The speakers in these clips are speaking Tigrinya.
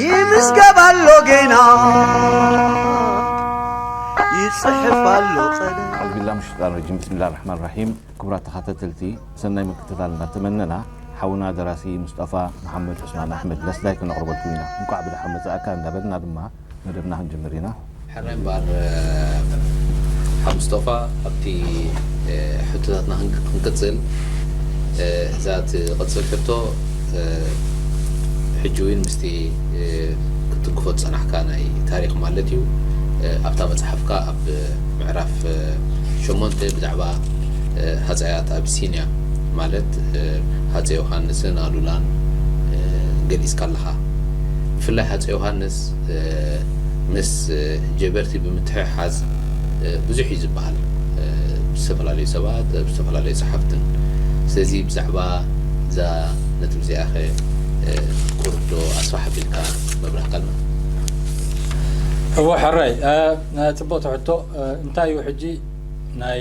ይምዝገብ ኣሎ ጌና ይጽሕፍ ኣሎ ቐደ ኣዑዝ ቢላ ምን ሸጣን ረጂም ብስሚላ ራሕማን ራሒም ክቡራት ተኸታተልቲ ሰናይ ምክትታል እናተመነና ሓውና ደራሲ ሙስጠፋ መሓመድ ዑስማን ኣሕመድ ለስላይ ክነቕርበልኩም ኢና እንኳዕ ብደሓን መጻእካ እንዳበልና ድማ መደብና ክንጅምር ኢና። ሕራይ እምበኣር ሓው ምስጦፋ ኣብቲ ሕቶታትና ክንቅጽል እዛ ትቕጽል ሕቶ ሕጂ እውን ምስቲ ክትትንክፎ ዝጸናሕካ ናይ ታሪኽ ማለት እዩ ኣብታ መጽሓፍካ ኣብ ምዕራፍ ሸሞንተ ብዛዕባ ሃጸያት ኣብሲንያ ማለት ሃጸ ዮሃንስን ኣሉላን ገሊጽካ ኣለኻ ብፍላይ ሃጸ ዮሃንስ ምስ ጀበርቲ ብምትሕሓዝ ብዙሕ እዩ ዝበሃል ብ ዝተፈላለዩ ሰባት ብ ዝተፈላለዩ ጸሓፍትን ስለዚ ብዛዕባ እዛ ነጥቢ እዚኣኸ ቁሩብ ዶ ኣስፋሕ ኣቢልካ መብራህካልና። እወ ሕራይ ጽብቕቲ ሕቶ እንታይ እዩ ሕጂ ናይ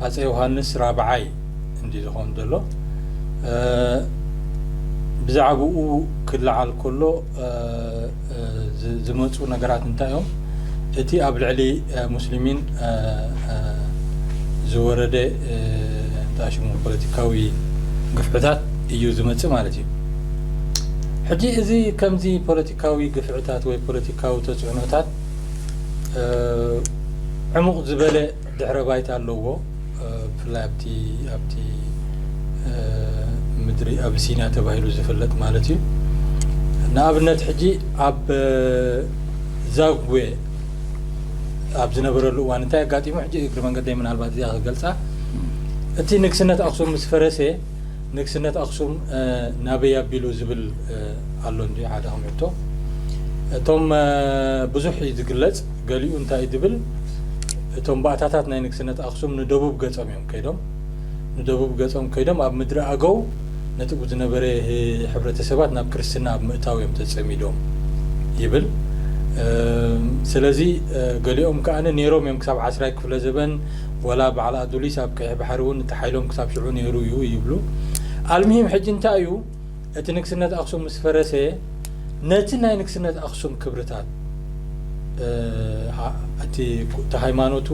ሃጸይ ዮሃንስ ራብዓይ፣ እንድዩ ዝኸውን ዘሎ ብዛዕብኡ ክለዓል ከሎ ዝመፁ ነገራት እንታይ እዮም እቲ ኣብ ልዕሊ ሙስሊሚን ዝወረደ እንታይ ሽሙ ፖለቲካዊ ግፍዕታት እዩ ዝመፅእ ማለት እዩ ሕጂ እዚ ከምዚ ፖለቲካዊ ግፍዕታት ወይ ፖለቲካዊ ተፅዕኖታት ዕሙቕ ዝበለ ድሕረ ባይታ ኣለዎ ብፍላይ ኣብቲ ኣብቲ ምድሪ ኣብሲንያ ተባሂሉ ዝፍለጥ ማለት እዩ ንኣብነት ሕጂ ኣብ ዛጉዌ ኣብ ዝነበረሉ እዋን እንታይ ኣጋጢሙ ሕጂ እግሪ መንገደይ ምናልባት እዚኣ ክገልፃ እቲ ንግስነት ኣክሱም ምስ ፈረሰ ንግስነት ኣክሱም ናበይ ኣቢሉ ዝብል ኣሎ እንዲ ሓደ ከምሕቶ እቶም ብዙሕ እዩ ዝግለፅ ገሊኡ እንታይ ድብል እቶም ባእታታት ናይ ንግስነት ኣክሱም ንደቡብ ገጾም እዮም ከይዶም ንደቡብ ገጾም ከይዶም ኣብ ምድሪ ኣገው ነቲ ዝነበረ ሕብረተሰባት ናብ ክርስትና ኣብ ምእታው እዮም ተጸሚዶም ይብል ስለዚ ገሊኦም ከኣ ነይሮም እዮም ክሳብ ዓስራይ ክፍለ ዘበን ወላ በዓል ኣዱሊስ ኣብ ቀይሕ ባሕሪ እውን እቲ ሓይሎም ክሳብ ሽዑ ነይሩ እዩ ይብሉ ኣልምሂም ሕጂ እንታይ እዩ እቲ ንግስነት ኣክሱም ምስ ፈረሰ ነቲ ናይ ንግስነት ኣክሱም ክብርታት እቲ እቲ ሃይማኖቱ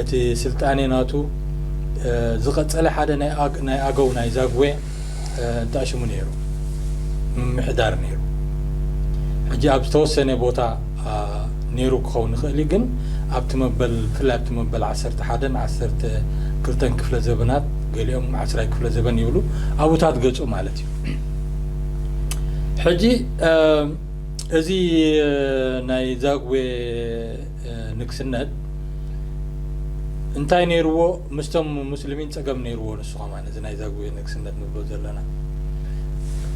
እቲ ስልጣኔ ናቱ ዝቐጸለ ሓደ ናይ ኣገው ናይ ዛግዌ እንታይ ሽሙ ነይሩ ምምሕዳር ነይሩ ሕጂ ኣብ ዝተወሰነ ቦታ ነይሩ ክኸውን ይኽእል እዩ፣ ግን ኣብቲ መበል ብፍላይ ኣብቲ መበል ዓሰርተ ሓደን ዓሰርተ ክልተን ክፍለ ዘበናት ገሊኦም ዓስራይ ክፍለ ዘበን ይብሉ ኣቡታት ገጹ ማለት እዩ። ሕጂ እዚ ናይ ዛግዌ ንግስነት እንታይ ነይርዎ ምስቶም ሙስልሚን ጸገም ነይርዎ ንሱ ከማን እዚ ናይ ዛጉዌ ንግስነት ንብሎ ዘለና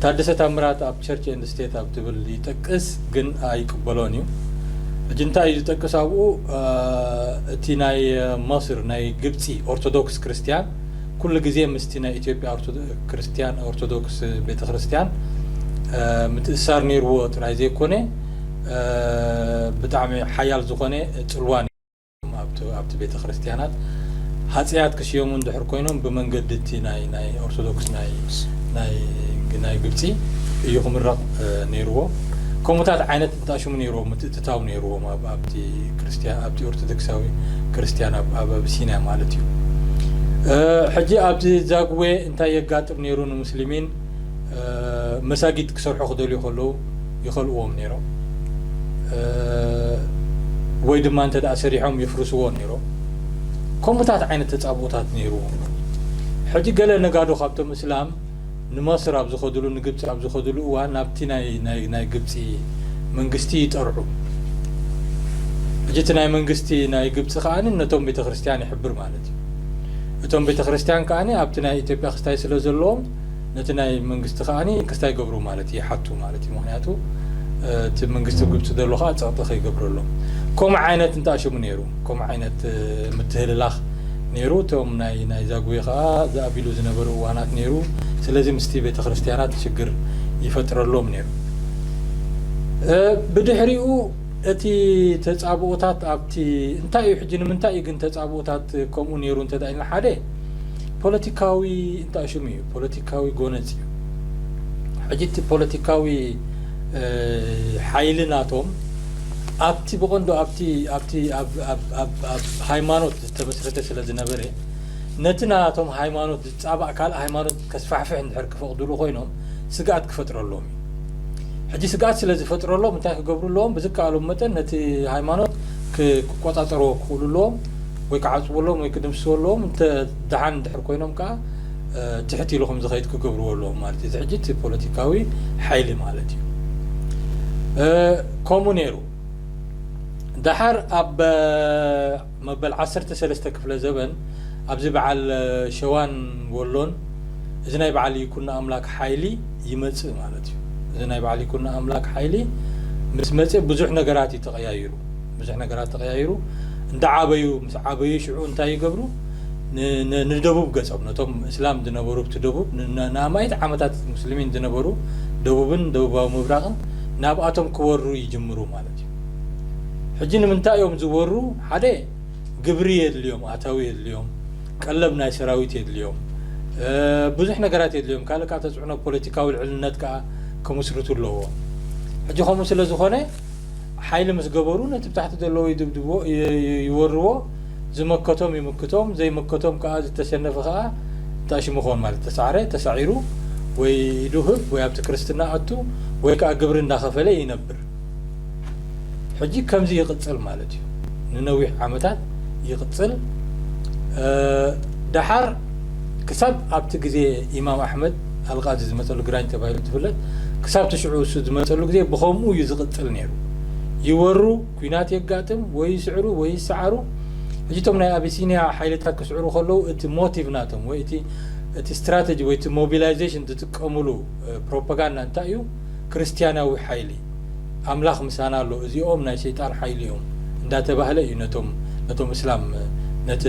ታደሰ ታምራት ኣብ ቸርች ኤንድ ስቴት ኣብ ትብል ይጠቅስ ግን ኣይቅበሎን እዩ ሕጂ እንታይ እዩ ዝጠቅስ ኣብኡ እቲ ናይ መስር ናይ ግብፂ ኦርቶዶክስ ክርስትያን ኩሉ ግዜ ምስቲ ናይ ኢትዮጵያ ክርስትያን ኦርቶዶክስ ቤተ ክርስትያን ምትእሳር ነይርዎ ጥራይ ዘይኮነ ብጣዕሚ ሓያል ዝኾነ ፅልዋን ኣብቲ ቤተ ክርስቲያናት ሃፀያት ክስየሙ እንድሕር ኮይኖም ብመንገዲ እቲ ናይ ኦርቶዶክስ ናይ ግብፂ እዩ ክምረቕ ነይርዎ ከምኡታት ዓይነት እንታሽሙ ነይርዎ ምትእትታው ነይርዎም ኣብቲ ክርስቲያ ኣብቲ ኦርቶዶክሳዊ ክርስቲያን ኣብ ኣብሲንያ ማለት እዩ ሕጂ ኣብዚ ዛግዌ እንታይ የጋጥም ነይሩ ንሙስሊሚን መሳጊድ ክሰርሑ ክደልዩ ከለዉ ይኸልእዎም ነይሮም ወይ ድማ እንተ ሰሪሖም የፍርስዎ ነይሮም ከምኡታት ዓይነት ተጻብኦታት ነይርዎም ሕጂ ገለ ነጋዶ ካብቶም እስላም ንመስር ኣብ ዝኸድሉ ንግብፂ ኣብ ዝኸድሉ እዋን ናብቲ ናይ ግብፂ መንግስቲ ይጠርዑ እጅ እቲ ናይ መንግስቲ ናይ ግብፂ ከዓ ነቶም ቤተ ክርስቲያን ይሕብር ማለት እዩ እቶም ቤተ ክርስቲያን ከዓ ኣብቲ ናይ ኢትዮጵያ ክስታይ ስለ ዘለዎም ነቲ ናይ መንግስቲ ከኣ ክስታይ ይገብሩ ማለት እዩ ይሓቱ ማለት እዩ ምክንያቱ እቲ መንግስቲ ግብጺ ዘሎ ከኣ ጸቕጢ ከይገብረሎም ከምኡ ዓይነት እንተ ኣሽሙ ነይሩ ከምኡ ዓይነት ምትህልላኽ ነይሩ እቶም ናይ ናይ ዛጉዌ ከኣ ዝኣቢሉ ዝነበሩ እዋናት ነይሩ ስለዚ ምስቲ ቤተ ክርስቲያናት ሽግር ይፈጥረሎም ነይሩ ብድሕሪኡ እቲ ተጻብኦታት ኣብቲ እንታይ እዩ ሕጂ ንምንታይ እዩ ግን ተጻብኦታት ከምኡ ነይሩ እንተ ኢልና ሓደ ፖለቲካዊ እቲ ኣሽሙ እዩ ፖለቲካዊ ጎነጽ እዩ ሕጂ እቲ ፖለቲካዊ ሓይሊ ናቶም ኣብቲ ብቐንዱ ኣብቲ ኣብቲ ኣብ ኣብ ኣብ ኣብ ሃይማኖት ዝተመስረተ ስለ ዝነበረ ነቲ ናቶም ሃይማኖት ዝጻባእ ካልእ ሃይማኖት ከስፋሕፍሕ እንድሕር ክፈቕድሉ ኮይኖም ስግኣት ክፈጥረሎም እዩ ሕጂ ስግኣት ስለ ዝፈጥረሎም እንታይ ክገብሩ ኣለዎም ብዝከኣሎም መጠን ነቲ ሃይማኖት ክቆጻጸርዎ ክኽእሉ ኣለዎም ወይ ክዓጽቡ ኣለዎም ወይ ክድምስሱ ኣለዎም እንተ ደሓን እንድሕር ኮይኖም ከኣ ትሕት ኢሉ ከምዝኸይድ ክገብርዎ ኣለዎም ማለት እዩ። እዚ ሕጂ እቲ ፖለቲካዊ ሓይሊ ማለት እዩ። ከምኡ ነይሩ። ደሓር ኣብ መበል ዓሰርተ ሰለስተ ክፍለ ዘበን ኣብዚ በዓል ሸዋን ወሎን እዚ ናይ በዓል ይኩኖ ኣምላክ ሓይሊ ይመጽእ ማለት እዩ። እዚ ናይ በዓል ይኩኖ ኣምላክ ሓይሊ ምስ መጽ ብዙሕ ነገራት እዩ ተቐያይሩ። ብዙሕ ነገራት ተቐያይሩ። እንዳዓበዩ ምስ ዓበዩ ሽዑ እንታይ ይገብሩ? ንደቡብ ገጾም ነቶም እስላም ዝነበሩ ብቲ ደቡብ ንኣማኢት ዓመታት ሙስሊሚን ዝነበሩ ደቡብን ደቡባዊ ምብራቕን ናብኣቶም ክወሩ ይጅምሩ ማለት እዩ ሕጂ ንምንታይ እዮም ዝወሩ ሓደ ግብሪ የድልዮም ኣታዊ የድልዮም ቀለብ ናይ ሰራዊት የድልዮም ብዙሕ ነገራት የድልዮም ካልእ ካብ ተፅዕኖ ፖለቲካዊ ልዕልነት ከዓ ክምስርቱ ኣለዎ ሕጂ ከምኡ ስለ ዝኾነ ሓይሊ ምስ ገበሩ ነቲ ብታሕቲ ዘለዎ ይድብድብዎ፣ ይወርዎ፣ ዝመከቶም ይምክቶም፣ ዘይመከቶም ከኣ ዝተሸነፈ ከኣ ጣሽሙ ክኾን ማለት ተሳዕረ፣ ተሳዒሩ፣ ወይ ኢዱ ህብ ወይ ኣብቲ ክርስትና ኣቱ ወይ ከኣ ግብሪ እንዳኸፈለ ይነብር። ሕጂ ከምዚ ይቕጽል ማለት እዩ። ንነዊሕ ዓመታት ይቕጽል። ደሓር ክሳብ ኣብቲ ግዜ ኢማም ኣሕመድ ኣልቓዲ ዝመጸሉ ግራኝ ተባሂሉ እንትፍለጥ ክሳብቲ ሽዑ እሱ ዝመጸሉ ግዜ ብኸምኡ እዩ ዝቕጽል ነይሩ ይወሩ ኩናት የጋጥም ወይ ይስዕሩ ወይ ይሰዓሩ ሕጂ እቶም ናይ ኣቢሲንያ ሓይልታት ክስዕሩ ከለዉ እቲ ሞቲቭ ናቶም ወይ እቲ እቲ ስትራተጂ ወይ እቲ ሞቢላይዜሽን ዝጥቀምሉ ፕሮፓጋንዳ እንታይ እዩ ክርስትያናዊ ሓይሊ ኣምላኽ ምሳና ኣሎ እዚኦም ናይ ሰይጣን ሓይሊ እዮም እንዳተባህለ እዩ ነቶም ነቶም እስላም ነቲ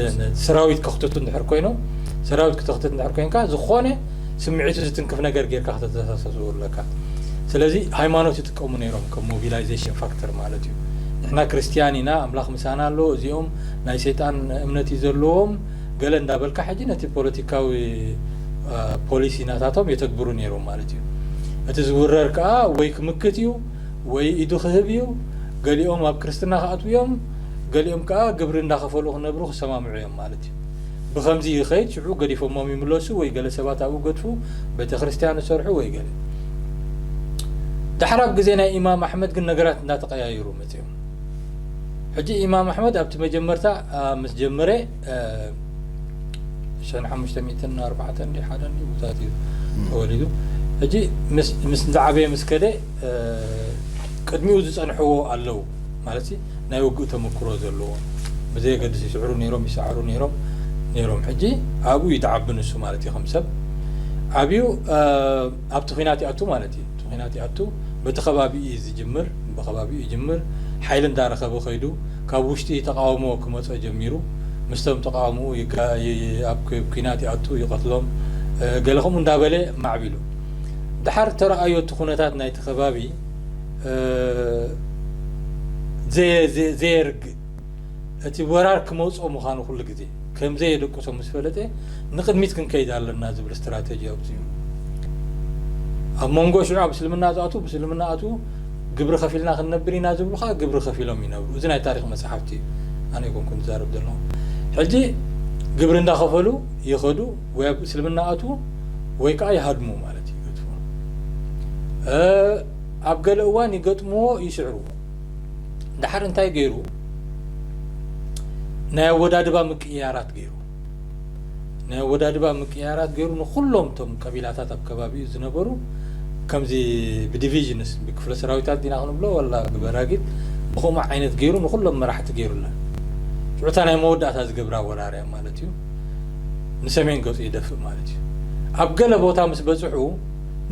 ሰራዊት ከኽትቱ እንድሕር ኮይኖም ሰራዊት ክተኽትት እንድሕር ኮይንካ ዝኾነ ስምዒቱ ዝትንክፍ ነገር ጌርካ ከተተሳሰሱ ኣለካ ስለዚ ሃይማኖት ይጥቀሙ ነይሮም ከም ሞቢላይዜሽን ፋክተር ማለት እዩ ንሕና ክርስትያን ኢና ኣምላኽ ምሳና ኣሎ እዚኦም ናይ ሰይጣን እምነት እዩ ዘለዎም ገለ እንዳበልካ ሕጂ ነቲ ፖለቲካዊ ፖሊሲ ናታቶም የተግብሩ ኔሮም ማለት እዩ። እቲ ዝውረር ከኣ ወይ ክምክት እዩ ወይ ኢዱ ክህብ እዩ። ገሊኦም ኣብ ክርስትና ክኣትዉ እዮም ገሊኦም ከኣ ግብሪ እንዳኸፈሉ ክነብሩ ክሰማምዑ እዮም ማለት እዩ። ብኸምዚ ይኸይድ ሽዑ ገዲፎሞም ይምለሱ ወይ ገለ ሰባት ኣብኡ ገድፉ ቤተክርስትያን እሰርሑ ወይ ገለ። ዳሕራብ ግዜ ናይ ኢማም ኣሕመድ ግን ነገራት እንዳተቐያየሩ መጺኦም። ኣትዮም። ሕጂ ኢማም ኣሕመድ ኣብቲ መጀመርታ ምስ ጀመረ ሸን ሓሙሽተ ሚእትን ኣርባዕተን ድዩ ሓደን ድዩ ብታት እዩ ተወሊዱ ሕጂ ምስ ዝዓበየ ምስ ከደ ቅድሚኡ ዝጸንሕዎ ኣለዉ ማለት ናይ ውግእ ተመክሮ ዘለዎ ብዘየገድስ ይስዕሩ ነይሮም ይሰዓሩ ነይሮም ነይሮም ሕጂ ኣብኡ ይትዓቢ ንሱ ማለት እዩ ከም ሰብ ዓብዩ ኣብቲ ኹናት ይኣቱ ማለት እዩ እቲ ኹናት ይኣቱ በቲ ከባቢኡ እዩ ዝጅምር በከባቢኡ ይጅምር ሓይሊ እንዳረኸበ ከይዱ ካብ ውሽጢ ተቃውሞ ክመፆ ጀሚሩ ምስቶም ተቃውምኡ ኣብ ኩናት ይኣቱ ይቀትሎም ገለ ከምኡ እንዳበለ ማዕቢሉ ዳሓር ተረኣዮ እቲ ኩነታት ናይቲ ከባቢ ዘየርግእ እቲ ወራር ክመጽኦ ምዃኑ ኩሉ ግዜ ከም ዘየደቅሶ ምስ ፈለጠ፣ ንቕድሚት ክንከይድ ኣለና ዝብል ስትራተጂ ኣውጺኡ። ኣብ መንጎ ሽዑ ኣብ እስልምና ዝኣትዉ ብእስልምና ኣትዉ፣ ግብሪ ከፊልና ክንነብር ኢና ዝብሉ ከኣ ግብሪ ከፊሎም ይነብሩ። እዚ ናይ ታሪኽ መጻሕፍቲ እዩ ኣነ ኣይኮንኩን ዝዛረብ ዘለኹ። ሕጂ ግብሪ እንዳኸፈሉ ይኸዱ ወይ ኣብ እስልምና ኣትዉ ወይ ከኣ ይሃድሙ ማለት ይገድፉ። ኣብ ገለ እዋን ይገጥምዎ ይስዕርዎ። ድሓር እንታይ ገይሩ ናይ ኣወዳድባ ምቅይያራት ገይሩ ናይ ኣወዳድባ ምቅይያራት ገይሩ ንኩሎም እቶም ቀቢላታት ኣብ ከባቢኡ ዝነበሩ ከምዚ ብዲቪዥንስ ብክፍለ ሰራዊታት ዲና ክንብሎ ወላ ብበራጊት ብከምኡ ዓይነት ገይሩ ንኩሎም መራሕቲ ገይሩላ ሽዑታ ናይ መወዳእታ ዝገብራ ወራር እያ ማለት እዩ ንሰሜን ገጹ ይደፍእ ማለት እዩ ኣብ ገለ ቦታ ምስ በጽሑ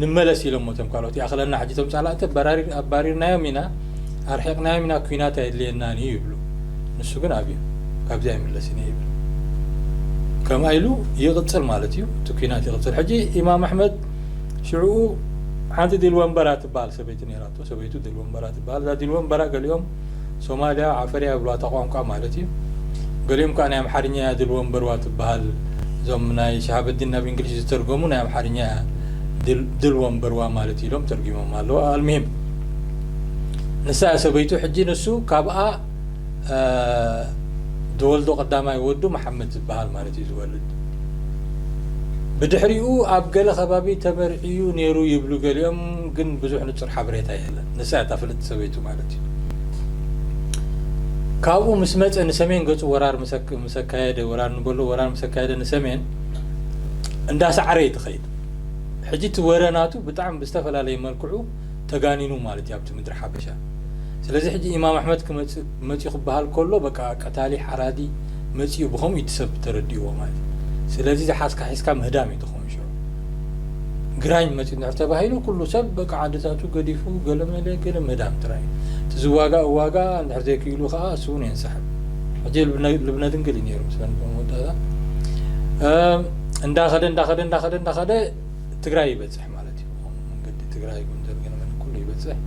ንመለስ ኢሎሞ እቶም ካልኦት ይኣኽለና ሕጂ እቶም ጻላእቲ ኣባሪርናዮም ኢና ኣርሒቕናዮም ኢና ኲናት ኣየድልየናን እዩ ይብሉ ንሱ ግን ኣብዩ ካብዚ ኣይምለስን እየ ይብል ከምኣ ኢሉ ይቕጽል ማለት እዩ እቲ ኲናት ይቕጽል ሕጂ ኢማም ኣሕመድ ሽዑኡ ሓንቲ ዲል ወንበራ ትበሃል ሰበይቲ ነይራቶ ሰበይቱ ደልወንበራ ትበሃል እዛ ዲልወንበራ ገሊኦም ሶማልያ ዓፈር እያ ይብልዋ እታ ቋንቋ ማለት እዩ ገሊኦም ከኣ ናይ ኣምሓርኛ እያ ድልወንበርዋ ትበሃል እዞም ናይ ሽሃበዲን ናብ እንግሊሽ ዝተርጎሙ ናይ ኣምሓርኛ እያ ድልወንበርዋ ማለት እዩ ኢሎም ተርጉሞማ ኣለዉ ኣልምሂም ንሳ እያ ሰበይቱ ሕጂ ንሱ ካብኣ ዝወልዶ ቀዳማይ ወዱ መሓመድ ዝበሃል ማለት እዩ ዝወልድ ብድሕሪኡ ኣብ ገለ ከባቢ ተመርዕዩ ነይሩ ይብሉ ገሊኦም ግን ብዙሕ ንጹር ሓበሬታ የለን። ንሳ እያ እታ ፍልጥቲ ሰበይቱ ማለት እዩ። ካብኡ ምስ መጸ ንሰሜን ገጹ ወራር ምስ ኣካየደ፣ ወራር ንበሎ ወራር ምስ ኣካየደ ንሰሜን እንዳሰዓረ እዩ ትኸይድ። ሕጂ እቲ ወረ ናቱ ብጣዕሚ ብዝተፈላለየ መልክዑ ተጋኒኑ ማለት እዩ ኣብቲ ምድሪ ሓበሻ። ስለዚ ሕጂ ኢማም ኣሕመድ ክመጽእ መጽዩ ክበሃል ከሎ በቃ ቀታሊ ሓራዲ መጽዩ ብኸምኡ እዩ እቲ ሰብ ተረዲእዎ ማለት እዩ። ስለዚ ዝሓዝካ ሒዝካ ምህዳም እዩ። ኣይተረፈዎን ሽዑ ግራኝ መጺኡ እንድሕር ተባሂሉ ኩሉ ሰብ በቃ ዓድታቱ ገዲፉ ገለመለ ገለ ምህዳም ጥራይ እቲ ዝዋጋእ እዋጋእ እንድሕር ዘይክኢሉ ከኣ እሱ እውን የንሳሕብ ሕጂ ልብነ ድንግል እዩ ነይሩ ምስለን መወዳእታ እንዳኸደ እንዳኸደ እንዳኸደ እንዳኸደ ትግራይ ይበጽሕ ማለት እዩ መንገዲ ትግራይ ጎንደር ገለመለ ኩሉ ይበጽሕ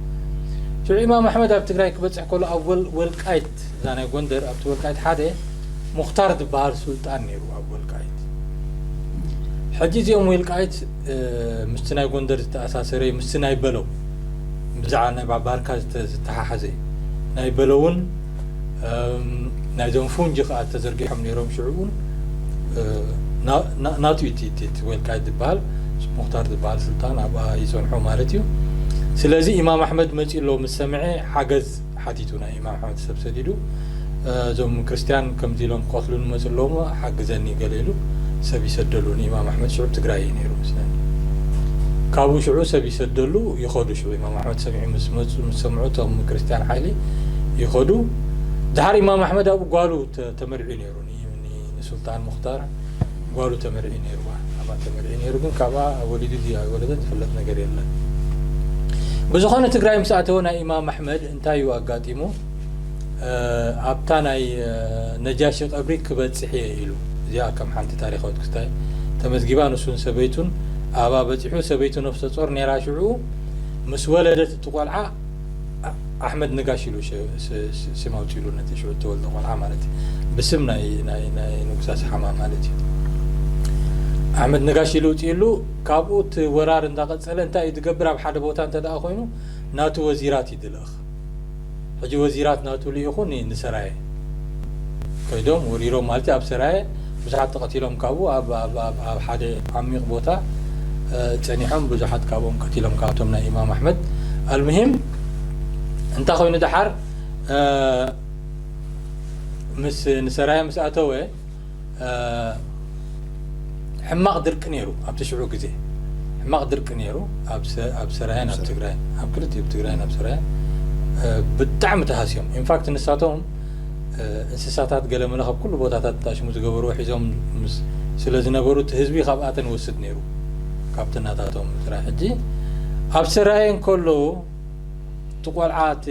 ሽዑ ኢማም ኣሕመድ ኣብ ትግራይ ክበጽሕ ከሎ ኣብ ወልቃይት እዛ ናይ ጎንደር ኣብቲ ወልቃይት ሓደ ሙክታር ዝበሃል ሱልጣን ነይሩ ኣብ ወልቃይት ሕጂ እዚኦም ወልቃይት ምስቲ ናይ ጎንደር ዝተኣሳሰረ እዩ ምስቲ ናይ በለው ብዛዕባ ናይ ባባርካ ዝተሓሓዘ እዩ ናይ በለውን ናይዞም ፉንጂ ከዓ ተዘርጊሖም ነይሮም ሽዑ እውን ናቱ እዩ እቲ ወልቃይት ዝበሃል ሙክታር ዝበሃል ስልጣን ኣብኣ ይፀንሖ ማለት እዩ ስለዚ ኢማም ኣሕመድ መፂ ኣሎ ምስ ሰምዐ ሓገዝ ሓቲቱ ናይ ኢማም ሕብረተሰብ ሰዲዱ እዞም ክርስትያን ከምዚ ኢሎም ክቀትሉኒ መጹ ኣለዉ እሞ ሓግዘኒ ገለ ኢሉ ሰብ ይሰደሉ ንኢማም ኣሕመድ ሽዑ ብ ትግራይ እዩ ነይሩ መስለኒ ካብኡ ሽዑ ሰብ ይሰደሉ ይኸዱ ሽዑ ኢማም ኣሕመድ ሰሚዑ ምስ መጹ ምስ ሰምዑ እቶም ክርስትያን ሓይሊ ይኸዱ ድሓር ኢማም ኣሕመድ ኣብኡ ጓሉ ተመርዕዩ ነይሩ ዩኒ ንሱልጣን ሙኽታር ጓሉ ተመርዕዩ ነይሩዋ ኣብኣ ተመርዕዩ ነይሩ ግን ካብኣ ወሊዱ ድዩ ኣይወለደ ዝፍለጥ ነገር የለን ብዝኾነ ትግራይ ምስ ኣተወ ናይ ኢማም ኣሕመድ እንታይ እዩ ኣጋጢሙ ኣብታ ናይ ነጃሺ ቀብሪ ክበፅሕ እየ ኢሉ እዚኣ ከም ሓንቲ ታሪካዊት ክስታይ ተመዝጊባ ንሱን ሰበይቱን ኣብኣ በፂሑ ሰበይቱ ነፍሰ ፆር ነይራ ሽዑ ምስ ወለደት እቲ ቆልዓ ኣሕመድ ነጋሽ ኢሉ ስም ኣውፂሉ ነቲ ሽዑ እተወልደ ቆልዓ ማለት እዩ ብስም ናይ ንጉስ ኣስሓማ ማለት እዩ ኣሕመድ ነጋሽ ኢሉ ውፅኢሉ ካብኡ እቲ ወራር እንዳቐፀለ እንታይ እዩ ዝገብር ኣብ ሓደ ቦታ እንተ ኮይኑ ናቱ ወዚራት እዩ ድልእኽ ሕጂ ወዚራት ናቱ ልኢኹ ንሰራየ ከይዶም ወሪሮም ማለት ኣብ ሰራየ ብዙሓት ተቐቲሎም ካብኡ ኣብ ሓደ ዓሚቕ ቦታ ጸኒሖም ብዙሓት ካብኦም ቀቲሎም ካብቶም ናይ ኢማም ኣሕመድ ኣልምሂም እንታይ ኮይኑ ደሓር ምስ ንሰራያ ምስ ኣተወ ሕማቕ ድርቂ ነይሩ ኣብቲ ሽዑ ግዜ ሕማቕ ድርቂ ነይሩ ኣብ ሰራያን ኣብ ትግራይን ኣብ ክልቲኡ ትግራይን ኣብ ሰራያን ብጣዕሚ ተሃስዮም ኢንፋክት ንሳቶም እንስሳታት ገለመለ ካብ ኩሉ ቦታታት ጣሽሙ ዝገበርዎ ሒዞም ምስ ስለ ዝነበሩ እቲ ህዝቢ ካብኣተን ወስድ ነይሩ ካብቲ ናታቶም ጥራይ ሕጂ ኣብ ሰራየ እንከሎ እቲ ቆልዓ እቲ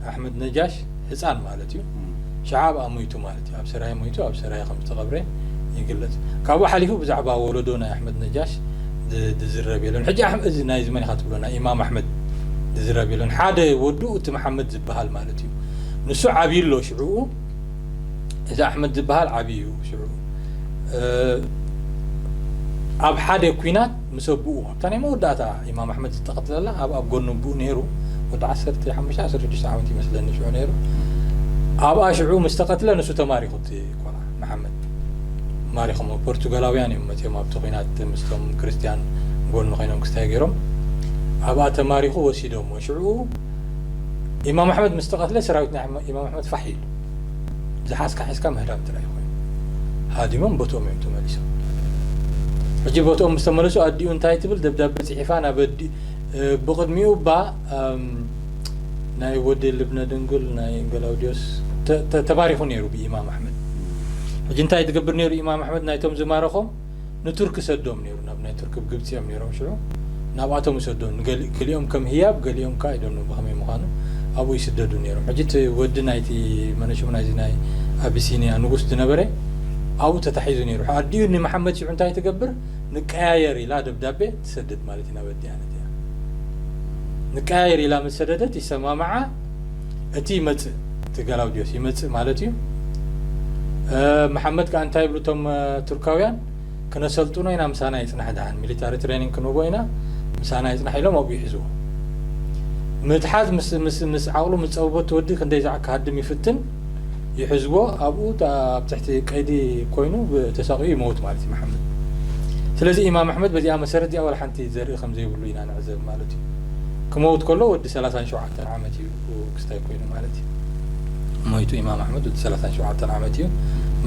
ኣሕመድ ነጃሽ ህፃን ማለት እዩ ሽዓ ኣብኣ ሞይቱ ማለት እዩ ኣብ ሰራየ ሞይቱ ኣብ ሰራየ ከም ዝተቐብረ ይግለጽ ካብኡ ሓሊፉ ብዛዕባ ወለዶ ናይ ኣሕመድ ነጃሽ ዝዝረብ የለን ሕጂ እዚ ናይዚ መን ኢኻ ትብሎ ናይ ኢማም ኣሕመድ ዝዝረብ የለን ሓደ ወዱ እቲ መሓመድ ይበሃል ማለት እዩ ንሱ ዓብዩ ኣሎ ሽዑኡ እዚ ኣሕመድ ዝበሃል ዓብዩ እዩ ሽዑ ኣብ ሓደ ኩናት ምስ ኣቦኡ ኣብታ ናይ መወዳእታ ኢማም ኣሕመድ ዝተቐትለላ ኣብ ኣብ ጎኑ ኣቦኡ ነይሩ ወዲ ዓሰርተ ሓሙሽተ ዓሰርተ ሽዱሽተ ዓመት ይመስለኒ ሽዑ ነይሩ ኣብኣ ሽዑ ምስ ተቐትለ ንሱ ተማሪኹ እቲ ቆልዓ መሓመድ ማሪኾሞ ፖርቱጋላውያን እዮም መፅኦም ኣብቲ ኩናት ምስቶም ክርስትያን ጎኑ ኮይኖም ክስታይ ገይሮም ኣብኣ ተማሪኹ ወሲዶሞ ሽዑ ኢማም ኣሕመድ ምስ ተቐትለ ሰራዊት ናይ ኢማም ኣሕመድ ፋሕ ኢሉ። ዝሓዝካ ሒዝካ ምህዳም ጥራይ ኮይኑ። ሃዲሞም ቦትኦም እዮም ተመሊሶም። ሕጂ ቦትኦም ምስ ተመለሱ ኣዲኡ እንታይ ትብል ደብዳቤ ጽሒፋ ናብ ኣዲ ብቕድሚኡ እባ ናይ ወዲ ልብነ ድንግል ናይ ገላውድዮስ ተማሪኹ ነይሩ ብኢማም ኣሕመድ። ሕጂ እንታይ ትገብር ነይሩ ኢማም ኣሕመድ ናይቶም ዝማረኾም ንቱርኪ ሰዶም ነይሩ ናብ ናይ ቱርኪ ብ ግብጺ እዮም ነይሮም ሽዑ ናብኣቶም ይሰዶም ንገሊ ክሊኦም ከም ህያብ ገሊኦም ካኣ ኣይዶኖ ብከመይ ምካኑ ኣብኡ ይስደዱ ነይሮም ሕጂ እቲ ወዲ ናይቲ መነሽሙ ናይዚ ናይ ኣቢሲንያ ንጉስ ድነበረ ኣብኡ ተታሒዙ ነይሩ ሕእ ኣዲኡ ንመሓመድ ሽዑ እንታይ ትገብር ንቀያየር ኢላ ደብዳቤ ትሰድድ ማለት እዩ ናብ ኣዲኣ ነዲኣ ንቀያየር ኢላ ምስ ሰደደት ይሰማምዓ እቲ ይመጽእ እቲ ገላውዴዎስ ይመጽእ ማለት እዩ መሓመድ ከኣ እንታይ ይብሉ እቶም ቱርካውያን ክነሰልጥኖ ኢና ምሳና ይጽናሕ ደሓን ሚሊታሪ ትሬኒንግ ክንህቦ ኢና ምሳና ይጽናሕ ኢሎም ኣብኡ ይሕዝዎ ምትሓዝ ምስ ዓቕሉ ምስ ጸበበቱ ወዲ ክንደይ ዛዕ ክሃድም ይፍትን ይሕዝዎ ኣብኡ ኣብ ትሕቲ ቀይዲ ኮይኑ ተሳቂኡ ይመውት ማለት እዩ መሓመድ ስለዚ ኢማም ኣሕመድ በዚኣ መሰረት እዚኣ ዋላ ሓንቲ ዘርኢ ከም ዘይብሉ ኢና ንዕዘብ ማለት እዩ ክመውት ከሎ ወዲ 37 ሸውዓተ ዓመት እዩ ክስታይ ኮይኑ ማለት እዩ ሞይቱ ኢማም ኣሕመድ ወዲ ሰላሳን ሸውዓተን ዓመት እዩ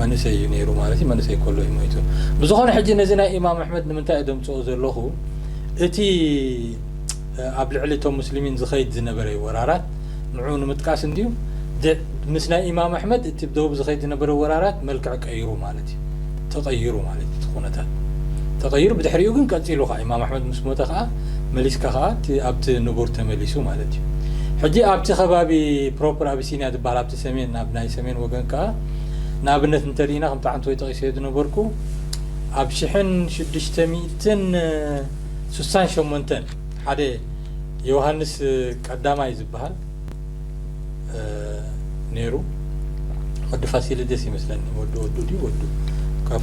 መንእሰይ እዩ ነይሩ ማለት እዩ መንእሰይ ከሎ እዩ ሞይቱ ብዝኾነ ሕጂ ነዚ ናይ ኢማም ኣሕመድ ንምንታይ እዩ ደምፅኦ ዘለኹ እቲ ኣብ ልዕሊ እቶም ሙስሊሚን ዝኸይድ ዝነበረ ወራራት ንዑ ንምጥቃስ እንድዩ ምስ ናይ ኢማም ኣሕመድ እቲ ደቡብ ዝኸይድ ዝነበረ ወራራት መልክዕ ቀይሩ ማለት እዩ ማለት'ዩ። ተቐይሩ ማለት'ዩ እቲ ኩነታት ተቐይሩ ብድሕሪኡ ግን ቀጺሉ ከኣ ኢማም ኣሕመድ ምስ ሞተ ከኣ መሊስካ ከኣ እቲ ኣብቲ ንቡር ተመሊሱ ማለት'ዩ። ሕጂ ኣብቲ ከባቢ ፕሮፐር ኣቢሲንያ ዝበሃል ኣብቲ ሰሜን ኣብ ናይ ሰሜን ወገን ከኣ ንኣብነት እንተሪኢና ከምቲ ዓንተወይ ጠቒሰዮ ዝነበርኩ ኣብ ሽሕን ሽዱሽተ ሚእትን ስሳን ሸሞንተን ሓደ ዮውሃንስ ቀዳማይ ዝበሃል ነይሩ ወዲ ፋሲሊደስ ይመስለኒ ወዲ ወዱ ድዩ ወዱ ካብ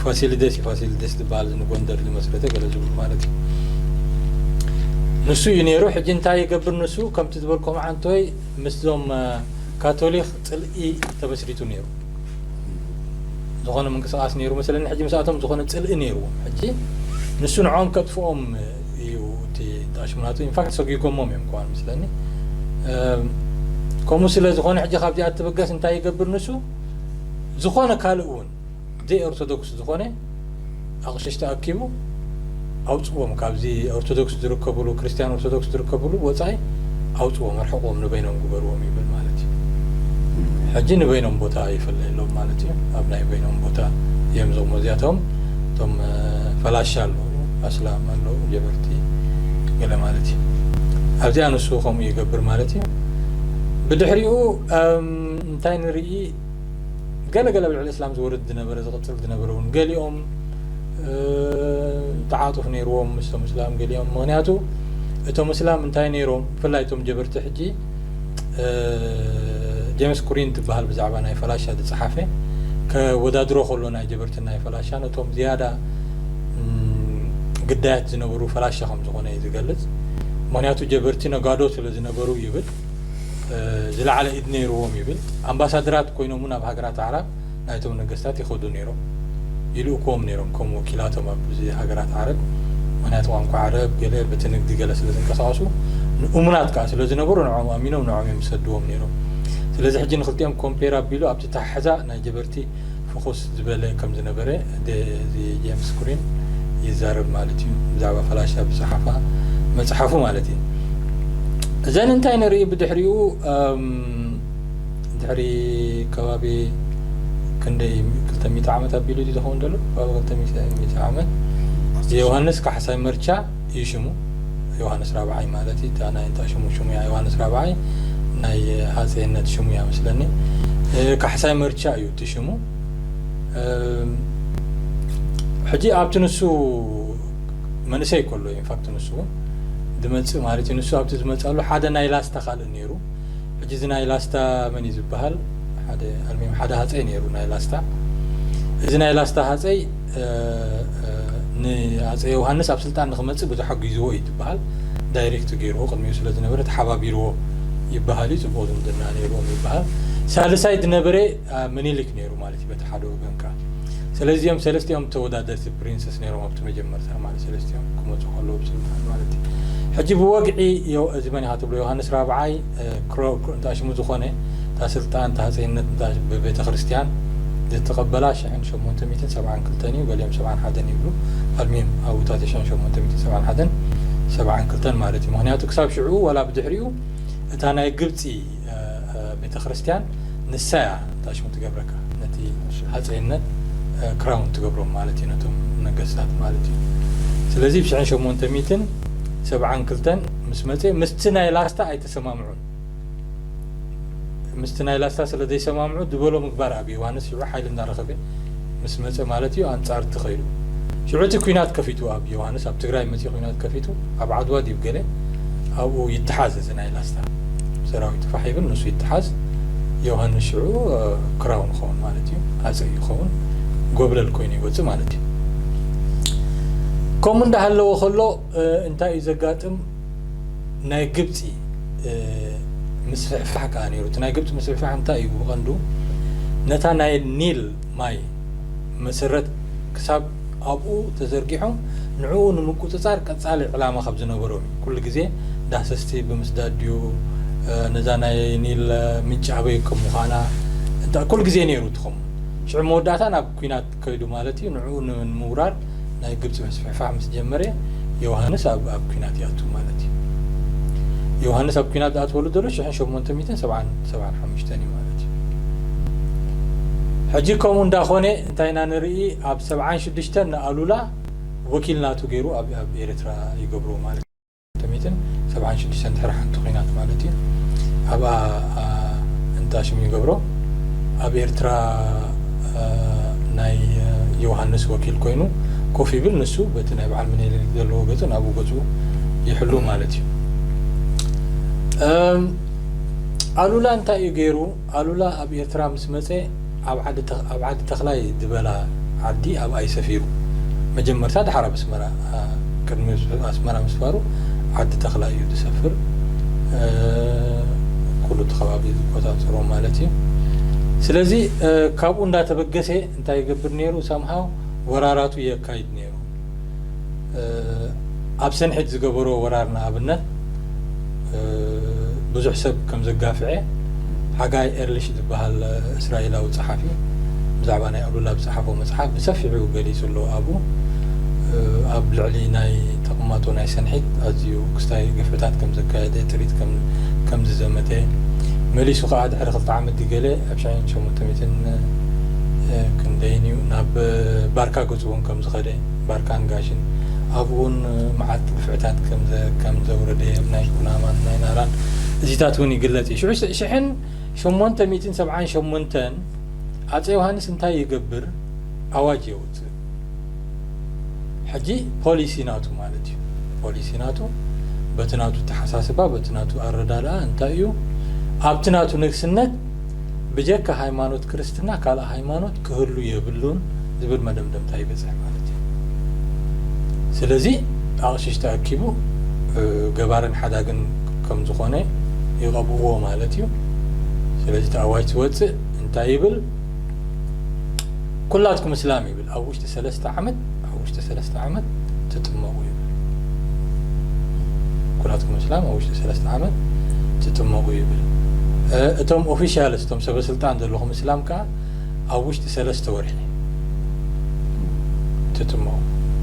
ፋሲሊደስ እዩ ፋሲሊደስ ዝበሃል ንጎንደር ዝመስረተ ገለ ዝብሉ ማለት እዩ ንሱ እዩ ነይሩ ሕጂ እንታይ ይገብር ንሱ ከምቲ ዝበልኮ መዓንቶይ ምስዞም ካቶሊክ ፅልኢ ተመስሪቱ ነይሩ ዝኾነ ምንቅስቃስ ነይሩ መሰለኒ ሕጂ ምስኣቶም ዝኾነ ፅልኢ ነይሩዎም ሕጂ ንሱ ንዖም ከጥፍኦም እዩ እቲ ጣሽሙ ናቱ ኢንፋክት ሰጒጎሞም እዮም ከዋን ምስለኒ ከምኡ ስለ ዝኾነ ሕጂ ካብዚኣ ትብገስ እንታይ ይገብር ንሱ ዝኾነ ካልእ እውን ዘይ ኦርቶዶክስ ዝኾነ ኣቕሽሽቲ ኣኪቡ ኣውፅዎም ካብዚ ኦርቶዶክስ ዝርከብሉ ክርስትያን ኦርቶዶክስ ዝርከብሉ ወፃኢ ኣውፅዎም ኣርሕቕዎም ንበይኖም ግበርዎም ይብል ማለት እዩ ሕጂ ንበይኖም ቦታ ይፈለየሎም ማለት እዩ ኣብ ናይ በይኖም ቦታ እዮም ዞሞ እዚኣቶም እቶም ፈላሻ ኣለዉ ኣስላም ኣለዉ ጀበርቲ ገለ ማለት እዩ ኣብዚኣ ንሱ ከምኡ ይገብር ማለት እዩ ብድሕሪኡ እንታይ ንርኢ ገለ ገለ ብልዕሊ እስላም ዝወርድ ዝነበረ ዝቕፅል ዝነበረ እውን ገሊኦም ተዓጡፍ ነይርዎም ምስቶም እስላም ገሊኦም ምክንያቱ እቶም እስላም እንታይ ነይሮም ብፍላይ እቶም ጀበርቲ ሕጂ ጀምስ ኩሪን ትበሃል ብዛዕባ ናይ ፈላሻ ዝጸሓፈ ከወዳድሮ ከሎ ናይ ጀበርትን ናይ ፈላሻን እቶም ዝያዳ ግዳያት ዝነበሩ ፈላሻ ከም ዝኾነ እዩ ዝገልጽ ምክንያቱ ጀበርቲ ነጋዶ ስለ ዝነበሩ ይብል ዝለዓለ ኢድ ነይርዎም ይብል ኣምባሳደራት ኮይኖም እውን ኣብ ሃገራት ኣዕራብ ናይቶም ነገስታት ይኸዱ ነይሮም ይልእኩዎም ነይሮም ከም ወኪላቶም ኣብ ሃገራት ዓረብ ምኽንያቱ ቋንቋ ዓረብ ገለ በቲ ንግዲ ገለ ስለ ዝንቀሳቐሱ ንእሙናት ከኣ ስለ ዝነበሩ ንዖም ኣሚኖም ንዖም እዮም ዝሰድዎም ነይሮም ስለዚ ሕጂ ንኽልቲኦም ኮምፔር ኣቢሉ ኣብቲ ታሕዛ ናይ ጀበርቲ ፍኹስ ዝበለ ከም ዝነበረ እዚ ጀምስ ግሪን ይዛረብ ማለት እዩ ብዛዕባ ፈላሻ ብዝሓፋ መጽሓፉ ማለት እዩ እዘን እንታይ ንርኢ ብድሕሪኡ ድሕሪ ከባቢ ክንደይ ክልተ ሚእቲ ዓመት ኣቢሉ ድዩ ዝኸውን ዘሎ ከባቢ ክልተ ሚእቲ ዓመት ዮሃንስ ካሕሳይ መርቻ እዩ ሽሙ ዮሃንስ ራብዓይ ማለት እዩ እታ ናይ እንታይ ሽሙ ሽሙ እያ ዮሃንስ ራብዓይ ናይ ሃፀይነት ሽሙ እያ መስለኒ ካሕሳይ መርቻ እዩ እቲ ሽሙ ሕጂ ኣብቲ ንሱ መንእሰይ ከሎ ኢንፋክት ንሱ እውን ዝመፅእ ማለት እዩ ንሱ ኣብቲ ዝመፃሉ ሓደ ናይ ላስታ ካልእ ነይሩ ሕጂ እዚ ናይ ላስታ መን እዩ ዝብሃል ሓደ ኣልሚም ሓደ ሃጸይ ነይሩ ናይ ላስታ እዚ ናይ ላስታ ሃጸይ ንኣጸ ዮውሃንስ ኣብ ስልጣን ንክመጽእ ብዙሕ ኣጒዝዎ እዩ ትብሃል ዳይሬክት ገይርዎ ቅድሚኡ ስለ ዝነበረ ተሓባቢርዎ ይብሃል እዩ ጽቡቕ ዝምድና ነይርዎም ይብሃል ሳልሳይ ዝነበረ ምኒሊክ ነይሩ ማለት እዩ በቲ ሓደ ወገን ከኣ ሰለዚ እዚኦም ሰለስቲኦም ተወዳደርቲ ፕሪንሰስ ነይሮም ኣብቲ መጀመርታ ማለት ሰለስቲኦም ክመጹ ከለዉ ብስልጣን ማለት እዩ ሕጂ ብወግዒ እዚ መን ኢኻ ትብሎ ዮሃንስ ራብዓይ እንተ ሽሙ ዝኾነ እታ ስልጣን እታ ሃጸይነት እንተ ብቤተክርስትያን ዝተቐበላ ሽሕን ሸሞንተ ሚእትን ሰብዓን ክልተን እዩ ገሊኦም ሰብዓን ሓደን ይብሉ ኣልሚም ኣብ ውታተ ሽሕን ሸሞንተ ሚእትን ሰብዓን ሓደን ሰብዓን ክልተን ማለት እዩ ምክንያቱ ክሳብ ሽዑ ዋላ ብድሕሪኡ እታ ናይ ግብጺ ቤተክርስትያን ንሳ እያ እታ ሽሙ ትገብረካ ነቲ ሃፀይነት ክራውን ትገብሮም ማለት እዩ ነቶም ነገስታት ማለት እዩ ስለዚ ብሽሕን ሸሞንተ ሚትን ሰብዓን ክልተን ምስ መፀ ምስቲ ናይ ላስታ ኣይተሰማምዑን ምስቲ ናይ ላስታ ስለ ዘይሰማምዑ ዝበሎ ምግባር ኣብ ዮሃንስ ሽዑ ሓይሊ እንዳረኸበ ምስ መጸ ማለት እዩ ኣንጻር እቲ ከይዱ ሽዑ እቲ ኩናት ከፊቱ ኣብ ዮውሃንስ ኣብ ትግራይ መጺኡ ኩናት ከፊቱ ኣብ ዓድዋ ድዩ ገለ ኣብኡ ይተሓዝ እዚ ናይ ላስታ ሰራዊቱ ፋሕ ይብል ንሱ ይተሓዝ ዮውሃንስ ሽዑ ክራውን ይኸውን ማለት እዩ ኣጸ ይኸውን ጎብለል ኮይኑ ይወጽእ ማለት እዩ ከምኡ እንዳሃለወ ከሎ እንታይ እዩ ዘጋጥም ናይ ግብጺ ምስፍሕፋሕ ከኣ ነይሩ። እቲ ናይ ግብጺ ምስፍሕፋሕ እንታይ እዩ ብቐንዱ ነታ ናይ ኒል ማይ መሰረት ክሳብ ኣብኡ ተዘርጊሖም ንዕኡ ንምቁጽጻር ቀጻሊ ዕላማ ከም ዝነበሮም እዩ። ኩሉ ግዜ ዳህሰስቲ ብምስዳድ ድዩ ነዛ ናይ ኒል ምንጪ ኣበይ ከም ምዃና ኩሉ ግዜ ነይሩ እቲ ከምኡ ሽዑ መወዳእታ ናብ ኩናት ከይዱ ማለት እዩ ንዕኡ ንምውራር ናይ ግብጺ ምስፍሕፋሕ ምስ ጀመረ ዮውሃንስ ኣብ ኣብ ኲናት ይኣቱ ማለት እዩ ዮውሃንስ ኣብ ኲናት ዝኣትወሉ ዘሎ ሽሕን ሸሞንተ ሚእትን ሰብዓን ሰብዓን ሓሙሽተን እዩ ማለት እዩ ሕጂ ከምኡ እንዳኾነ እንታይ ኢና ንርኢ ኣብ ሰብዓን ሽዱሽተን ንኣሉላ ወኪል ናቱ ገይሩ ኣብ ኣብ ኤርትራ ይገብሮ ማለት ሚእትን ሰብዓን ሽዱሽተን ድሕሪ ሓንቲ ኹናት ማለት እዩ ኣብኣ እንዳ ሽም ይገብሮ ኣብ ኤርትራ ናይ ዮውሃንስ ወኪል ኮይኑ ኮፍ ይብል ንሱ በቲ ናይ በዓል ምኒልክ ዘለዎ ገጹ ናብኡ ገጹ ይሕሉ ማለት እዩ ኣሉላ እንታይ እዩ ገይሩ ኣሉላ ኣብ ኤርትራ ምስ መጸ ኣብ ኣብ ዓዲ ተኽላይ ዝበላ ዓዲ ኣብኣ እዩ ሰፊሩ። መጀመርታ ድሓር ኣብ ኣስመራ ቅድሚ ኣስመራ ምስፋሩ ዓዲ ተኽላይ እዩ ዝሰፍር ኩሉ እቲ ከባቢ ዝቆጻጸሮ ማለት እዩ። ስለዚ ካብኡ እንዳተበገሰ እንታይ ይገብር ኔሩ ሳምሃው ወራራቱ የካይድ ኔሩ። ኣብ ሰንሒት ዝገበሮ ወራር ንኣብነት ብዙሕ ሰብ ከም ዘጋፍዔ ሓጋይ ኤርሊሽ ዝበሃል እስራኤላዊ ጸሓፊ ብዛዕባ ናይ ኣሉላ ዝጸሓፎ መጽሓፍ ብሰፊሑ ገሊጹ ኣሎ ኣብኡ ኣብ ልዕሊ ናይ ተቕማጦ ናይ ሰንሒት ኣዝዩ ክስታይ ግፍዕታት ከም ዘካየደ ጥሪት ከም ዝዘመተ መሊሱ ከዓ ድሕሪ ክልተ ዓመት ገለ ኣብ ሸሞንተ ሚእትን ክንደይን እዩ ናብ ባርካ እውን ከም ዝኸደ ባርካን ጋሽን ኣብኡ እውን መዓት ግፍዕታት ከም ዘውረደ ኣብ ናይ ኩናማን ናይ ናራን እዚታት እውን ይግለጽ እዩ ሽዑ ሽሕን ሸሞንተ ሚእትን ሰብዓን ሸሞንተን ኣጼ ዮሃንስ እንታይ ይገብር ኣዋጅ የውጽእ ሕጂ ፖሊሲ ናቱ ማለት እዩ ፖሊሲ ናቱ በቲ ናቱ ተሓሳስባ በቲ ናቱ ኣረዳድኣ እንታይ እዩ ኣብቲ ናቱ ንግስነት ብጀካ ሃይማኖት ክርስትና ካልእ ሃይማኖት ክህሉ የብሉን ዝብል መደምደምታ ይበጽሕ ማለት እዩ። ስለዚ ኣቕሽሽቲ ኣኪቡ ገባርን ሓዳግን ከም ዝኾነ ይቐብእዎ ማለት እዩ። ስለዚ እቲ ኣዋጅ ዝወጽእ እንታይ ይብል? ኩላትኩም እስላም ይብል። ኣብ ውሽጢ ሰለስተ ዓመት ኣብ ውሽጢ ሰለስተ ዓመት ትጥመቁ ይብል ኩላትኩም እስላም ኣብ ውሽጢ ሰለስተ ዓመት ትጥመቁ ይብል እቶም ኦፊሻልስ እቶም ሰበስልጣን ዘለኹም እስላም ከዓ ኣብ ውሽጢ ሰለስተ ወርሒ ትጥመቁ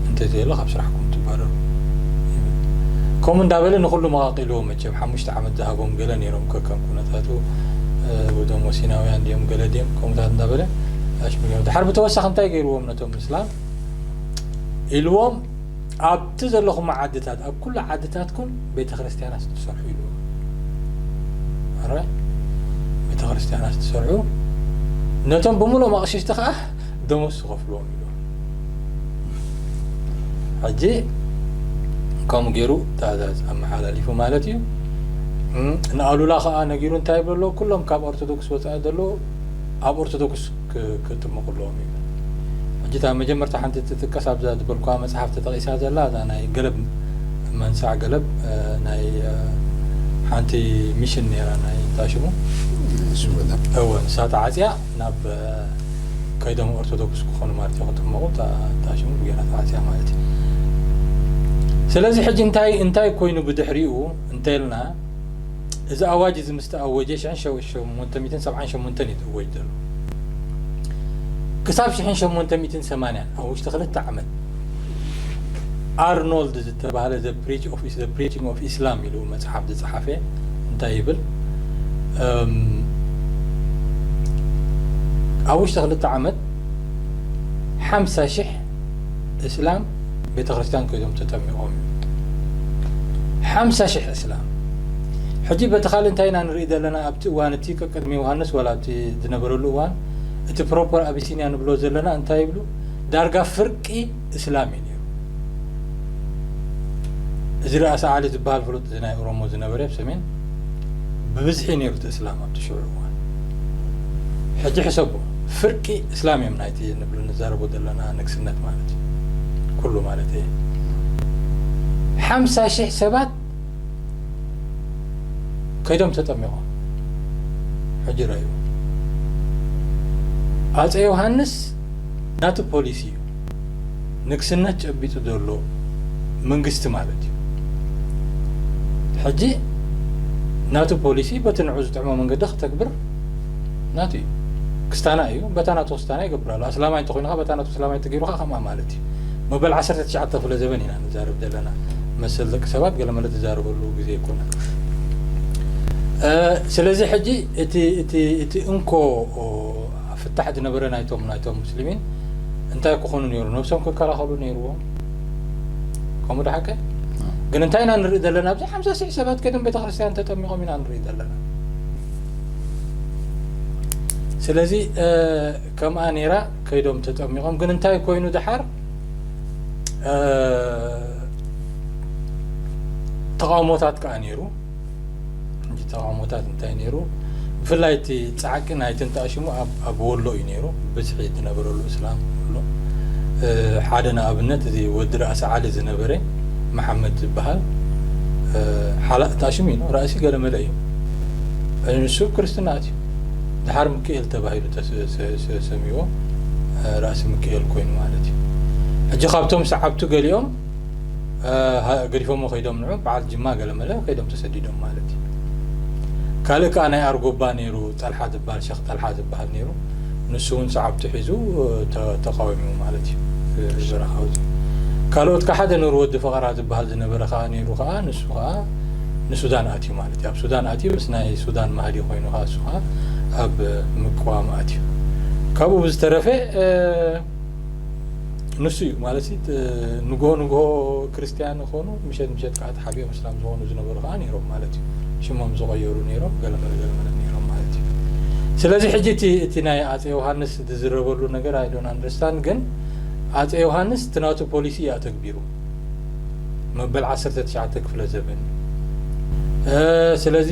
እንተዘየለ ካብ ስራሕኩም ትባረሩ ይብል ከምኡ እንዳበለ ንኩሉ መቃቂልዎ መቸም ሓሙሽተ ዓመት ዝሃቦም ገለ ኔሮም ከከም ኩነታቱ ብዶሞ ሲናውያን ድዮም ገለ ድዮም ከምኡታት እንዳበለ ኣሽሚሞም ድሓር ብተወሳኺ እንታይ ገይርዎም ነቶም ምስላም ኢልዎም ኣብቲ ዘለኹም ዓድታት ኣብ ኩሉ ዓድታትኩም ቤተ ክርስቲያን ኣስትሰርሑ ኢልዎ ቤተ ክርስቲያን ኣስትሰርሑ ነቶም ብምሎም ኣቕሽሽቲ ከዓ ደሞስ ዝኸፍልዎም ኢልዎ ሕጂ ከምኡ ገይሩ ትእዛዝ ኣመሓላሊፉ ማለት እዩ ንኣሉላ ከዓ ነጊሩ እንታይ ይብሎ ኣሎ ኩሎም ካብ ኦርቶዶክስ ወፃኢ ዘሎ ኣብ ኦርቶዶክስ ክጥምቁ ኣለዎም ይብል ሕጂ እታ መጀመርታ ሓንቲ ትጥቀስ ኣብዛ ዝበልኳ መፅሓፍ ተጠቂሳ ዘላ እዛ ናይ ገለብ መንሳዕ ገለብ ናይ ሓንቲ ሚሽን ነይራ ናይ እንታይ ሽሙ እወ ንሳ ተዓፅያ ናብ ከይዶም ኦርቶዶክስ ክኾኑ ማለት እዩ ክጥመቑ እታ ሽሙ ብጌራ ተዓጽያ ማለት እዩ ስለዚ ሕጂ እንታይ እንታይ ኮይኑ ብድሕሪኡ እንተልና እዚ ኣዋጅ እዚ ምስ ተኣወጀ ሽሕን ሸሞንተ ሚእትን ሰብዓን ሸሞንተን እዩ ዝእወጅ ዘሎ ክሳብ ሽሕን ሸሞንተ ሚእትን ሰማንያን ኣብ ውሽጢ ክልተ ዓመት ኣርኖልድ ዝተባህለ The Preach of Is The Preaching of Islam ኢሉ መጽሓፍ ዝጸሓፈ እንታይ ይብል እም ኣብ ውሽጢ ክልተ ዓመት ሓምሳ ሽሕ እስላም ቤተክርስትያን ከይዶም ተጠሚቖም እዩ ሓምሳ ሽሕ እስላም ሕጂ በቲ ካልእ እንታይ ኢና ንርኢ ዘለና ኣብቲ እዋን እቲ ቅድሚ ዮሃንስ ዋላ ኣብቲ ዝነበረሉ እዋን እቲ ፕሮፐር ኣቢሲንያ ንብሎ ዘለና እንታይ ይብሉ ዳርጋ ፍርቂ እስላም እዩ ነይሩ። እዚ ርኣሳ ዓሊ ዝበሃል ፍሉጥ እዚ ናይ ኦሮሞ ዝነበረ ኣብ ሰሜን ብብዝሒ እዩ ነይሩ እቲ እስላም ኣብቲ ሽዑ እዋን። ሕጂ ሕሰቦ ፍርቂ እስላም እዮም ናይቲ ንብሉ ንዛረቦ ዘለና ንግስነት ማለት እዩ ኩሉ ማለት እየ ሓምሳ ሽሕ ሰባት ከይዶም ተጠሚቖም ሕጂ ረዩ ኣፀ ዮሃንስ ናቱ ፖሊሲ እዩ ንግስነት ጨቢጡ ዘሎ መንግስቲ ማለት እዩ። ሕጂ ናቱ ፖሊሲ በቲ ንዑ ዝጥዕሞ መንገዲ ክተግብር ናቱ እዩ። ክስታና እዩ በታ ናቱ ክስታና ይገብር ኣሎ። ኣስላማይ እንተኾይኑ ከኣ በታ ናቱ ስላማይ እንተገይሩ ከኣ ከምኣ ማለት እዩ። መበል ዓሰርተ ትሽዓተ ክፍለ ዘበን ኢና ንዛረብ ዘለና። መሰል ደቂ ሰባት ገለመለ ትዛረበሉ ግዜ ኣይኮነን። ስለዚ ሕጂ እቲ እቲ እቲ እንኮ ፍታሕ ዝነበረ ናይቶም ናይቶም ሙስሊሚን እንታይ ክኾኑ ነይሩ ነብሶም ክከላኸሉ ነይርዎም ከምኡ ድሓቀ ግን እንታይ ኢና ንርኢ ዘለና ኣብዚ ሓምሳ ሽሕ ሰባት ከድም ቤተክርስትያን ተጠሚቖም ኢና ንርኢ ዘለና ስለዚ ከምኣ ነይራ ከይዶም ተጠሚቖም ግን እንታይ ኮይኑ ድሓር ተቃውሞታት ከዓ ነይሩ እቲ ተቃውሞታት እንታይ ነይሩ ብፍላይ እቲ ፃዕቂ ናይቲ እንታይ ሽሙ ኣብ ወሎ እዩ ነይሩ ብዝሒ ዝነበረሉ እስላም ወሎ ሓደ ንኣብነት እዚ ወዲ ራእሲ ዓሊ ዝነበረ መሓመድ ዝበሃል ሓላእ እንታይ ሽሙ እዩ ራእሲ ገለመለ እዩ ንሱ ክርስትና ኣትዩ ድሓር ምክኤል ተባሂሉ ተሰሚዎ ራእሲ ምክኤል ኮይኑ ማለት እዩ ሕጂ ካብቶም ሰዓብቱ ገሊኦም ገዲፎሞ ከይዶም ንዑ በዓል ጅማ ገለመለ ከይዶም ተሰዲዶም ማለት እዩ ካልእ ከዓ ናይ ኣርጎባ ነይሩ ጠልሓ ዝበሃል ሸክ ጠልሓ ዝበሃል ነይሩ ንሱ እውን ሰዓብቱ ሒዙ ተቃዊሙ ማለት እዩ እዚ በረኻ እዚ ካልኦት ከዓ ሓደ ነሩ ወዲ ፈቐራ ዝበሃል ዝነበረ ከዓ ነይሩ ከዓ ንሱ ከዓ ንሱዳን ኣትዩ ማለት እዩ ኣብ ሱዳን ኣትዩ ምስ ናይ ሱዳን ማህዲ ኮይኑ ከዓ ንሱ ከዓ ኣብ ምቅዋም ኣትዩ ካብኡ ብዝተረፈ ንሱ እዩ ማለት ንግሆ ንግሆ ክርስትያን ኾኑ ምሸት ምሸት ከዓ ተሓቢኦም እስላም ዝኾኑ ዝነበሩ ከዓ ነይሮም ማለት እዩ ሽሞም ዝቐየሩ ነይሮም ገለመለ ገለመለ ነይሮም ማለት እዩ ስለዚ ሕጂ እቲ እቲ ናይ ኣፀ ዮሃንስ ዝዝረበሉ ነገር ኣይዶን ኣንደርስታንድ ግን ኣፀ ዮሃንስ እቲ ናቱ ፖሊሲ እዩ ኣተግቢሩ መበል 19 ክፍለ ዘበን ስለዚ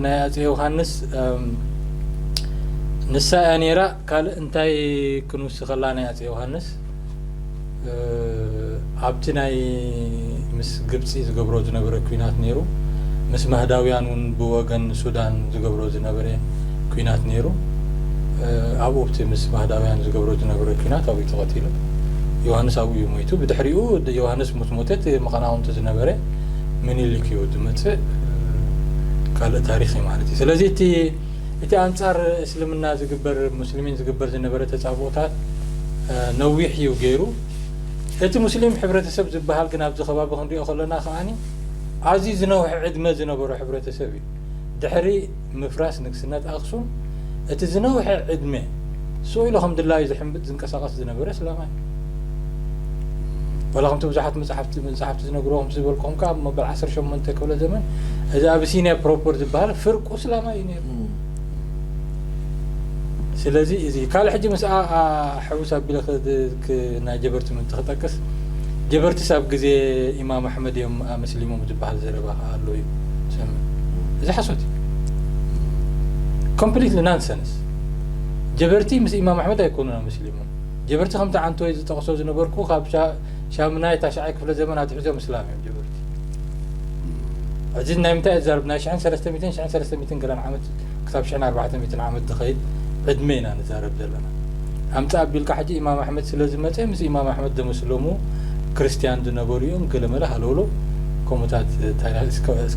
ናይ ኣፀ ዮሃንስ ንሳ እያ ነይራ ካልእ እንታይ ክንውስኸላ ናይ ኣፄ ዮሃንስ ኣብቲ ናይ ምስ ግብፂ ዝገብሮ ዝነበረ ኲናት ነይሩ ምስ ማህዳውያን እውን ብወገን ሱዳን ዝገብሮ ዝነበረ ኲናት ነይሩ ኣብኡ ብቲ ምስ ማህዳውያን ዝገብሮ ዝነበረ ኲናት ኣብኡ ተቐቲሉ ዮሃንስ ኣብኡ እዩ ሞይቱ ብድሕሪኡ ዮሃንስ ምስ ሞተ እቲ መቐናውንቲ ዝነበረ ምኒልክ እዩ ዝመፅእ ካልእ ታሪክ እዩ ማለት እዩ ስለዚ እቲ እቲ ኣንጻር እስልምና ዝግበር ሙስሊሚን ዝግበር ዝነበረ ተጻብኦታት ነዊሕ እዩ ገይሩ። እቲ ሙስሊም ሕብረተሰብ ዝበሃል ግን ኣብዚ ከባቢ ክንሪኦ ከሎና ከኣ ኣዝዩ ዝነውሐ ዕድመ ዝነበሮ ሕብረተሰብ እዩ። ድሕሪ ምፍራስ ንግስነት ኣክሱም እቲ ዝነውሐ ዕድመ ሱቕ ኢሉ ከም ድላዩ ዝሕምብጥ ዝንቀሳቐስ ዝነበረ እስላማይ ዋላ ከምቲ ብዙሓት መጽሓፍቲ መጽሓፍቲ ዝነግርዎ ከምቲ ዝበልኩኹም ከኣ መበል ዓሰርተ ሸሞንተ ክፍለ ዘመን እዚ ኣቢሲንያ ፕሮፐር ዝበሃል ፍርቁ እስላማይ እዩ ነይሩ ስለዚ እዚ ካልእ ሕጂ ምስኣ ሕውስ ኣቢለ ናይ ጀበርቲ ምእንቲ ክጠቅስ ጀበርቲስ ኣብ ግዜ ኢማም ኣሕመድ እዮም ኣመስሊሞም ዝበሃል ዘረባ ከዓ ኣሎ እዩ ሰምዕ እዚ ሓሶት እዩ ኮምፕሊትሊ ናንሰንስ ጀበርቲ ምስ ኢማም ኣሕመድ ኣይኮኑን ኣመስሊሞም ጀበርቲ ከምቲ ዓንተወይ ዝጠቕሶ ዝነበርኩ ካብ ሻምናይ ታሽዓይ ክፍለ ዘመን ኣትሒዞም እስላም እዮም ጀበርቲ ሕዚ ናይ ምንታይ ዛርብ ናይ ሽሕን ሰለስተ ሚትን ሽሕን ሰለስተ ሚትን ገለን ዓመት ክሳብ ሽሕን ኣርባዕተ ሚትን ዓመት ዝኸይድ ዕድመ ኢና ንዛረብ ዘለና ኣምፃ ኣቢልካ ሕጂ ኢማም ኣሕመድ ስለ ዝመፀ ምስ ኢማም ኣሕመድ ዘመስለሙ ክርስትያን ዝነበሩ እዮም ገለመለ ሃለውሎ ከምኡታት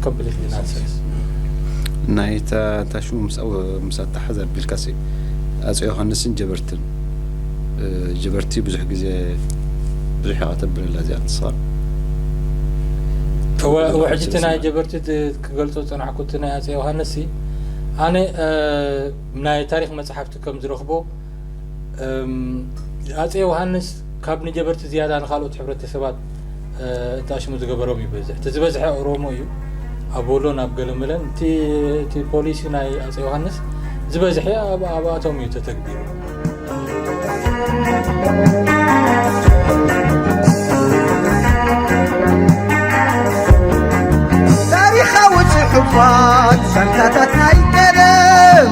ኮምፕሊት ናንሰንስ ናይ ታሽሙ ምስ ኣተሓዝ ኣቢልካሲ ኣፀ ዮሃንስን ጀበርቲ ጀበርቲ ብዙሕ ግዜ ብዙሕ ኢኻ ተብለላ እዚኣ ንስኻ ውሕጂ እቲ ናይ ጀበርቲ ክገልፆ ዝፀናሕኩ እቲ ናይ ኣፀ ዮሃንስ ኣነ ናይ ታሪክ መፅሓፍቲ ከም ዝረኽቦ ኣፀ ዮሃንስ ካብ ንጀበርቲ ዝያዳ ንካልኦት ሕብረተሰባት እተኣሽሙ ዝገበሮም ይበዝሕ እቲ ዝበዝሐ ኦሮሞ እዩ ኣብ ወሎን ኣብ ገለመለን እቲ ፖሊሲ ናይ ኣፀ ዮሃንስ ዝበዝሐ ኣብኣቶም እዩ ተተግቢሩ ታሪኻዊ ፅሑፋት ሰንታታት ናይ ቀደም